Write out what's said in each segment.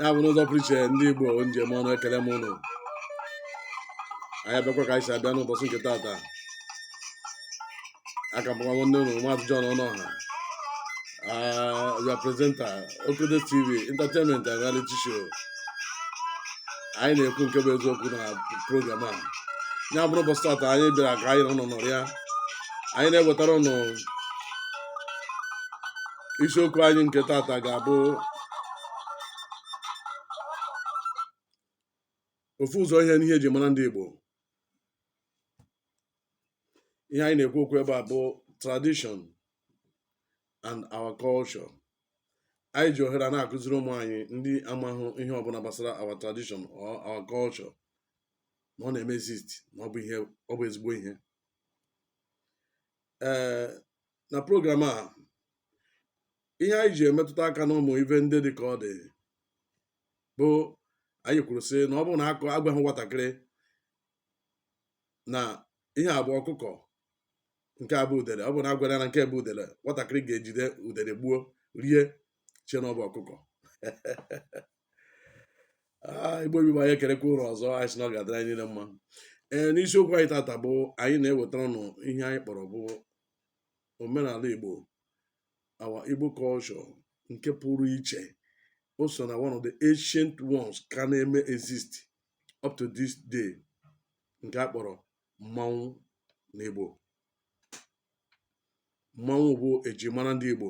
ya bụ n'ụzọ pụrụ iche ndị Igbo njem ọnụ ekele m ụnụ anyị abịakwa ka anyị si abịa n'ụbọchị nke taata aka m bụkwa nwanne ụnụ maazị John Ọnụọha your presenter Okodo TV entertainment and reality show anyị na-ekwu nke bụ eziokwu na program a ya bụrụ ụbọchị tata anyị bịara ka anyị nọ nọrịa anyị na-ewetara ụnụ isiokwu anyị nke tata ga-abụ ofu ụzọ ihe n'ihe eji mara ndị Igbo ihe anyị na-ekwu okwu ebe a bụ tradition and our culture anyị ji ohere a na-akụziri ụmụ anyị ndị amahụ ihe ọbụla gbasara our tradition or our culture na ọ na-eme exist na ọ bụ ihe ọ bụ ezigbo ihe ee na program a ihe anyị ji emetụta aka n'ụmụ ife ndị dị ka ọ dị bụ anyị kwuru sị na ọ bụrụ na aka agwaghị nwatakịrị na ihe a bụ ọkụkọ nke a bụ udele ọ bụ na agwara na nke bụ udele nwatakịrị ga-ejide udele gbuo rie chee na ọ bụ ọkụkọ Ah, Igbo bụ Igbo anyị ekelekwa ụnụ ọzọ anyị sị na ọ ga-adịrị anyị niile mma ee n'isiokwu anyị tata bụ anyị na-ewetara ụnụ ihe anyị kpọrọ bụ omenala Igbo our Igbo culture nke pụrụ iche o so na one of the ancient ones ka na-eme exist up to this day nke a kpọrọ mmanwụ n'Igbo mmanwụ bụ eji mara ndị Igbo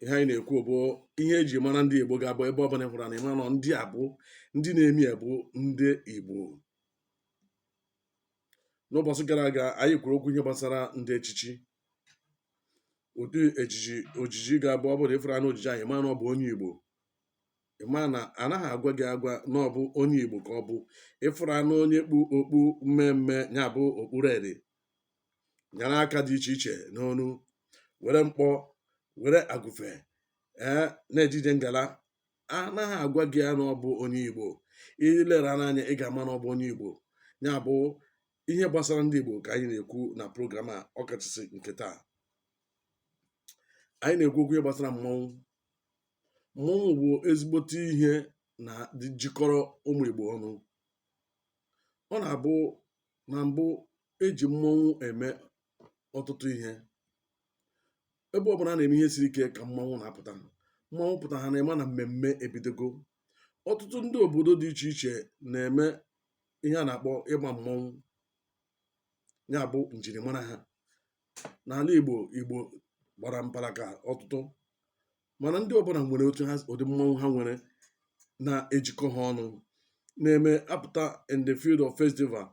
ihe anyị na-ekwu bụ ihe eji mara ndị Igbo ga-abụ ebe ọbụla ị hụrụ anya ị ma na ndị a bụ ndị na-eme ya bụ ndị Igbo n'ụbọchị gara aga anyị kwuru okwu ihe gbasara ndị echichi ụdị ejiji ojiji ga-abụ ọ bụrụ ị fụrụ anya ojiji anyị ma na ọ bụ onye Igbo ị ma na anaghị agwa gị agwa na ọ bụ onye Igbo ka ọ bụ ị fụrụ anya onye kpu okpu mme mme ya bụ okpu red nyara aka dị iche iche n'onu were mkpọ were agụfe ee na-eje ije ngala anaghị agwa gị ya na ọ bụ onye Igbo i lere ya n'anya ị ga-ama na ọ bụ onye Igbo ya bụ ihe gbasara ndị Igbo ka anyị na-ekwu na program a ọkachasị nke taa anyị na-ekwu okwu ihe gbasara mmọnwụ mmọnwụ bụ ezigbote ihe na jikọrọ ụmụ Igbo ọnụ ọ na-abụ na mbụ eji mmọnwụ eme ọtụtụ ihe ebe ọbụla a na-eme ihe siri ike ka mmọnwụ na-apụta mmọnwụ pụta ha na-eme na mmemme ebidogo ọtụtụ ndị obodo dị iche iche na-eme ihe a na-akpọ ịgba mmọnwụ ya bụ njirimara ha n'ala Igbo Igbo gbara mpara ka ọtụtụ mana ndị ọbụla nwere otu ha ụdị mmanwụ ha nwere na-ejikọ ha ọnụ na-eme apụta in the field of festival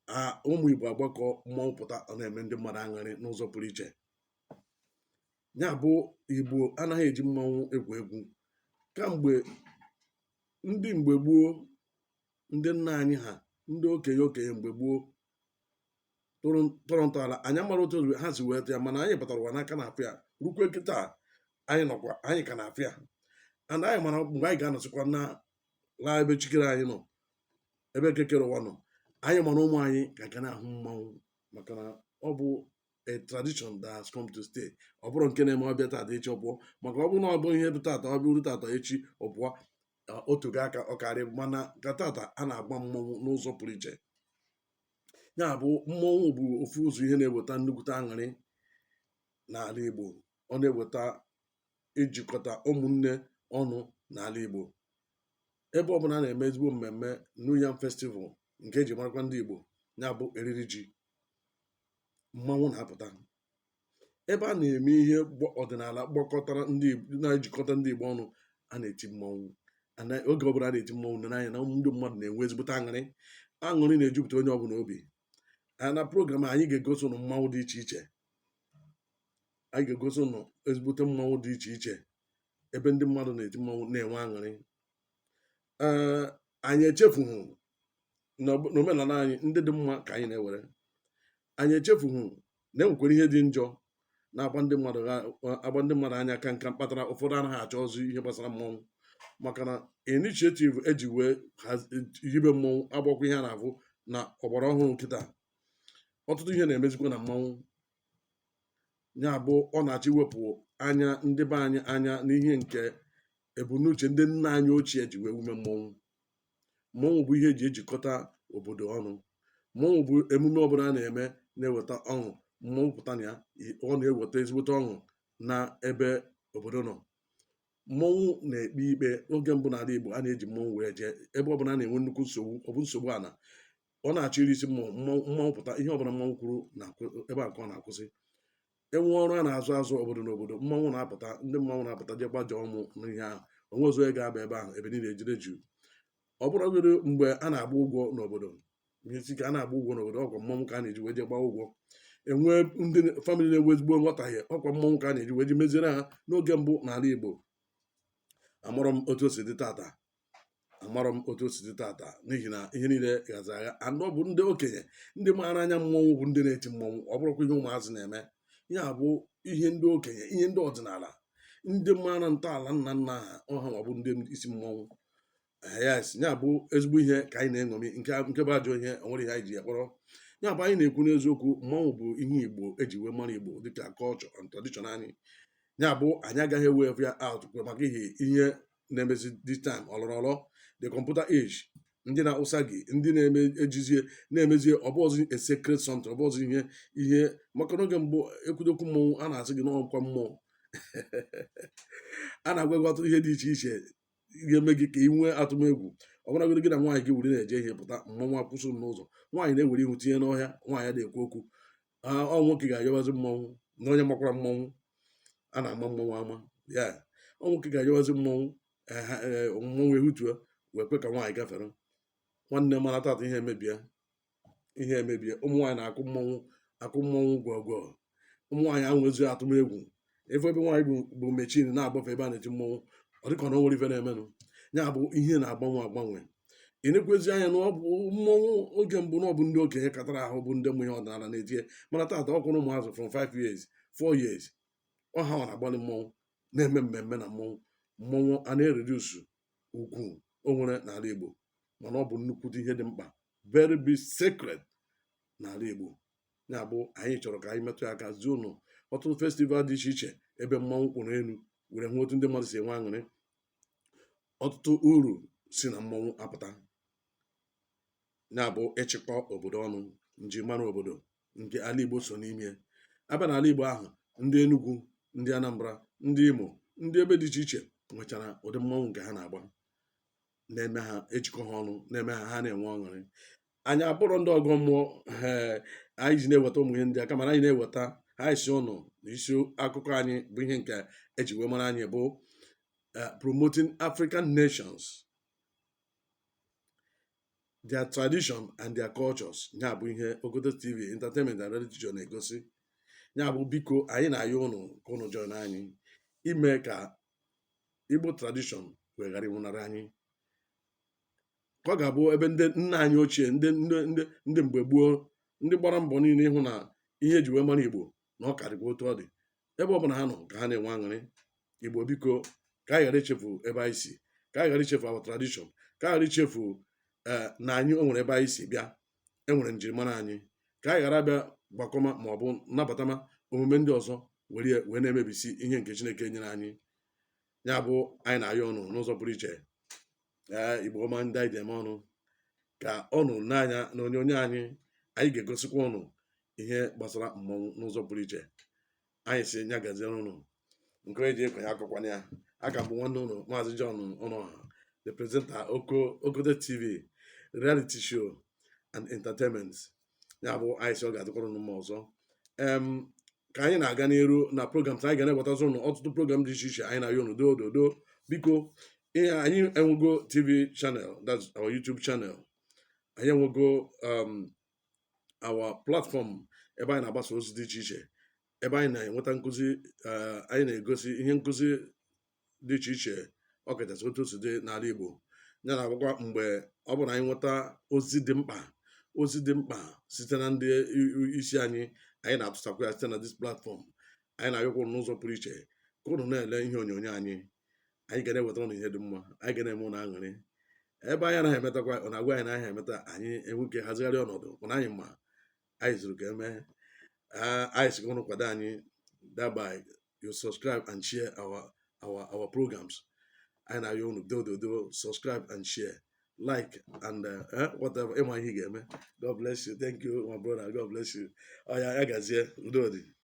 a ụmụ Igbo agbakọ mmanwụ pụta ọ na-eme ndị mmadụ aṅụrị n'ụzọ pụrụ iche ya bụ Igbo anaghị eji mmanwụ egwu egwu kamgbe ndị mgbe gboo ndị nna anyị ha ndị okenye okenye mgbe gboo tọrọ ntọala anyị amarọ otu ha si weta ya mana anyị batara ụwa na a ka na-afụ ya rukwe kịta anyị nọkwa anyị ka na-afụ ya and anyị mara mgbe anyị ga-anọsịkwa na laa ebe Chi kere anyị nọ ebe Eke kere ụwa nọ anyị ma na ụmụ anyị ka ga na-ahụ mmanwụ maka na ọ bụ a tradition that has come to stay ọ bụrọ nke na-eme ọ bịa tata echi ọ pụọ maka ọ bụrụ na ọ bụ ihe bụ tata ọ bụrụ tata echi ọ pụọ otu ga aka ọ karị mana ka tata a na-agba mmọnwụ n'ụzọ pụrụ iche ya bụ mmọnwụ bụ ofu ụzọ ihe na-eweta nnukwute aṅụrị n'ala Igbo ọ na-eweta ijikọta ụmụnne ọnụ n'ala Igbo ebe ọ bụla a na-eme ezigbo mmemme New Yam Festival nke eji marakwa ndị Igbo ya bụ eriri ji mmanwụ na-apụta ebe a na-eme ihe gbọ ọdịnala gbakọtara ndị Igbo na-ejikọta ndị Igbo ọnụ a na-eti mmọnwụ and oge ọbụla a na-eti mmọnwụ na n'anya na ndị mmadụ na-enwe ezigbote aṅụrị aṅụrị na-ejupụta onye ọbụla obi a na program a, anyị ga-egosi ụnụ mmanwụ dị iche iche anyị ga-egosi ụnụ ezigbote mmanwụ dị iche iche ebe ndị mmadụ na-eti mmanwụ na-enwe aṅụrị ee anyị echefughị na ọbụ- na omenala anyị ndị dị mma ka anyị na-ewere anyị echefughị na enwekwara ihe dị njọ na-agba ndị mmadụ anya ka nka kpatara ụfọdụ anaghị achọzị ihe gbasara mmọnwụ maka na initiative eji wee hibe mmọnwụ abụghịkwa ihe a na-afụ na ọgbara ọhụrụ kịta ọtụtụ ihe na-emezikwa na mmanwụ ya bụ ọ na-achọ iwepụ anya ndị be anyị anya n'ihe nke ebumnuche ndị nna anyị ochie ji wee wume mmọnwụ mmọnwụ bụ ihe eji ejikọta obodo ọnụ mmọnwụ bụ emume ọbụla a na-eme na-eweta ọṅụ mmọnwụ pụta na ya ọ na-eweta ezigbote ọṅụ na ebe obodo nọ mmọnwụ na-ekpe ikpe oge mbụ n'ala Igbo a na-eji mmọnwụ wee jee ebe ọbụla a na-enwe nnukwu nsogbu ọ bụ nsogbu ala ọ na-achọ iri isi mmọnwụ mmọnwụ pụta ihe ọbụla mmọnwụ kwuru na ebe a ka ọ na-akwụsị enwee ọrụ a na-azọ azọ obodo n'obodo mmanwụ na-apụta ndị mmanwụ na-apụta je gbajọ ọmụ n'ihe ahụ onwe ọzọ ya ga-aba ebe ahụ ebe niile edere juu ọ bụrụgoro mgbe a na-agba ụgwọ n'obodo isi ka a na-agba ụgwọ n'obodo ọkwa mmanwụ ka a na-eji wee je gbaa ụgwọ enwee ndị famịlị na-enwe ezigbo nghọtahie ọkwa mmanwụ ka a na-eji wee ji meziere ha n'oge mbụ n'ala Igbo amarọ m otu o si dị tata amarọ m otu o si dị tata n'ihi na ihe niile ghazi agha na ọ bụ ndị okenye ndị maara anya mmọnwụ bụ ndị na-eti mmọnwụ ọ bụrọkwa ihe ụmụazị na-eme ya bụ ihe ndị okenye ihe ndị ọdịnala ndị maara ntọala nna nna ha ọ ha na-abụ ndị isi mmọnwụ yes ya bụ ezigbo ihe ka anyị na-eṅomi nke nke bụ ajọ ihe nwere ihe anyị ji ya kpọrọ ya bụ anyị na-ekwu n'eziokwu mmọnwụ bụ ihe igbo eji wee mara igbo dịka culture and tradition anyị ya bụ anyị agaghị ewe ya out maka ihe ihe na-emezi this time ọlọrọ ọlọ the computer age ndị na-awụsa gị ndị na-eme ejizie na-emezie ọ bụrọzị a secret something ọ bụrọzị ihe ihe maka n'oge mbụ e kwute okwu mmọnwụ a na-asị gị na ọ kwa mmụọ a na-agwa gị ọtụtụ ihe dị iche iche ga-eme gị ka ị nwee atụmegwu ọ bụrụgodị gị na nwaanyị gị were na-eje ihe pụta mmọnwụ akwụsị ụnụ n'ụzọ nwaanyị na-ewere ihu tinye n'ọhịa nwaanyị ada-ekwu okwu ọ nwoke ga-ayọwazi mmọnwụ na onye makwara mmọnwụ a na-ama mmọnwụ ama ya ọ nwoke ga-ayọwazi mmọnwụ mmọnwụ ehutuo wee kwe ka nwaanyị gafere nwanne mana tata ihe emebie ihe emebie ụmụ nwaanyị na-akụ mmọnwụ akụ mmọnwụ gwọgwọ ụmụ nwaanyị enwezi atụmegwu ebe ebe nwaanyị bu machine na-agbafe ebe a na-eti mmọnwụ ọ dịka na o nwere ife na-emenụ ya bụ ihe na-agbanwe agbanwe i nekwazi anya na ọ bụ mmọnwụ oge mbụ na ọ bụ ndị okenye katara ahụ bụ ndị ma ihe ọdịnala na-eti ya mana taata ọ kwanụ ụmụazị from 5 years 4 years ọ hanwa na-agbalị mmọnwụ na-eme mmemme na mmọnwụ mmọnwụ a na-ereduce ugwu o nwere n'ala Igbo mana ọ bụ nnukwute ihe dị mkpa very big secret n'ala Igbo ya bụ anyị chọrọ ka anyị metụ ya aka zi ụnụ ọtụtụ festival dị iche iche ebe mmanwụ kwụrụ ụnụ were hụ otu ndị mmadụ si enwe aṅụrị ọtụtụ uru si na mmanwụ apụta na-abụ ịchịkọ obodo ọnụ njimara obodo nke ala Igbo so n'ime ya a bịa na ala Igbo a hụ ndị Enugu ndị Anambra ndị Imo ndị ebe dị iche iche nwechara ụdị mmanwụ nke ha na-agba na-eme ha ejikọ ha ọnụ na-eme ha ha na-enwe ọṅụrị anyị abụrọ ndị ọgọ mmụọ ee anyị ji na-eweta ụmụ ihe ndị a kama na anyị na-eweta ha izi ụnụ na isi akụkọ anyị bụ ihe nke eji wee mara anyị bụ eh, promoting African nations their tradition and their cultures ya bụ ihe Ogodo TV entertainment and religion na-egosi ya bụ biko anyị na-ayọ ụnụ ka ụnụ join anyị ime ka Igbo tradition wee ghara ịnwụnarị anyị ka ọ ga-abụ ebe ndị nna anyị ochie ndị ndị ndị ndị mgbe gboo ndị gbara mbọ niile ịhụ na ihe eji wee mara igbo na ọ ka dịkwa otu ọ dị ebe ọ bụla ha nọ ka ha na-enwe aṅụrị igbo biko ka anyị ghara ichefu ebe anyị si ka anyị ghara ichefu our tradition ka anyị ghara ichefu ee na anyị o nwere ebe anyị si bịa e nwere njirimara anyị ka anyị ghara bịa gbakọma ma ọ bụ nabatama omume ndị ọzọ were ya wee na-emebisi ihe nke chineke nyere anyị ya bụ anyị na-ayọ ụnụ n'ụzọ pụrụ iche ee igbo ọma ndị anyị ji eme ọnụ ka ụnụ n'anya na onyonyo anyị anyị ga-egosikwa ụnụ ihe gbasara mmọnwụ n'ụzọ pụrụ iche anyị sị nya gaziere ụnụ nke onye ji ekwe ya akọkwana ya a ka bụ nwanne ụnụ maazị John Ọnụọha the presenter Oko Okote TV reality show and entertainment ya bụ anyị sị ọ ga-adịkwara ụnụ mma ọzọ em ka anyị na-aga n'iru na program anyị ga na-ewetazi ụnụ ọtụtụ program dị iche iche anyị na-ayọ ụnụ doo dodo biko eh anyị enwego tv channel that's our youtube channel anyị enwego um, our platform ebe anyị na-agbasa ozi dị iche iche ebe anyị na-enweta nkụzi eh, anyị na-egosi ihe nkụzi dị iche iche ọ kachasị otu o si dị n'ala Igbo ya na-abụkwa mgbe ọ bụla anyị nweta ozi dị mkpa ozi dị mkpa site na ndị isi anyị anyị na-atụsakwa ya site na this platform anyị na-ayọkwa ụnụ n'ụzọ pụrụ iche ka ụnụ na-ele ihe onyonyo anyị anyị ga na-eweta ụnụ ihe dị mma anyị ga na-eme ụnụ aṅụrị ebe anyị anaghị emetakwa ụnụ agwa anyị na anyị emeta anyị enwee ike hazigharị ọnọdụ mana anyị ma anyị zuru ka e mee anyị sị ka ụnụ kwado anyị thereby you subscribe and share our our our programs anyị na-ayọ ụnụ dododo subscribe and share like and uh, eh, whatever ị ma ihe ị ga-eme God bless you thank you my brother God bless you ọ ya ya gazie udo dị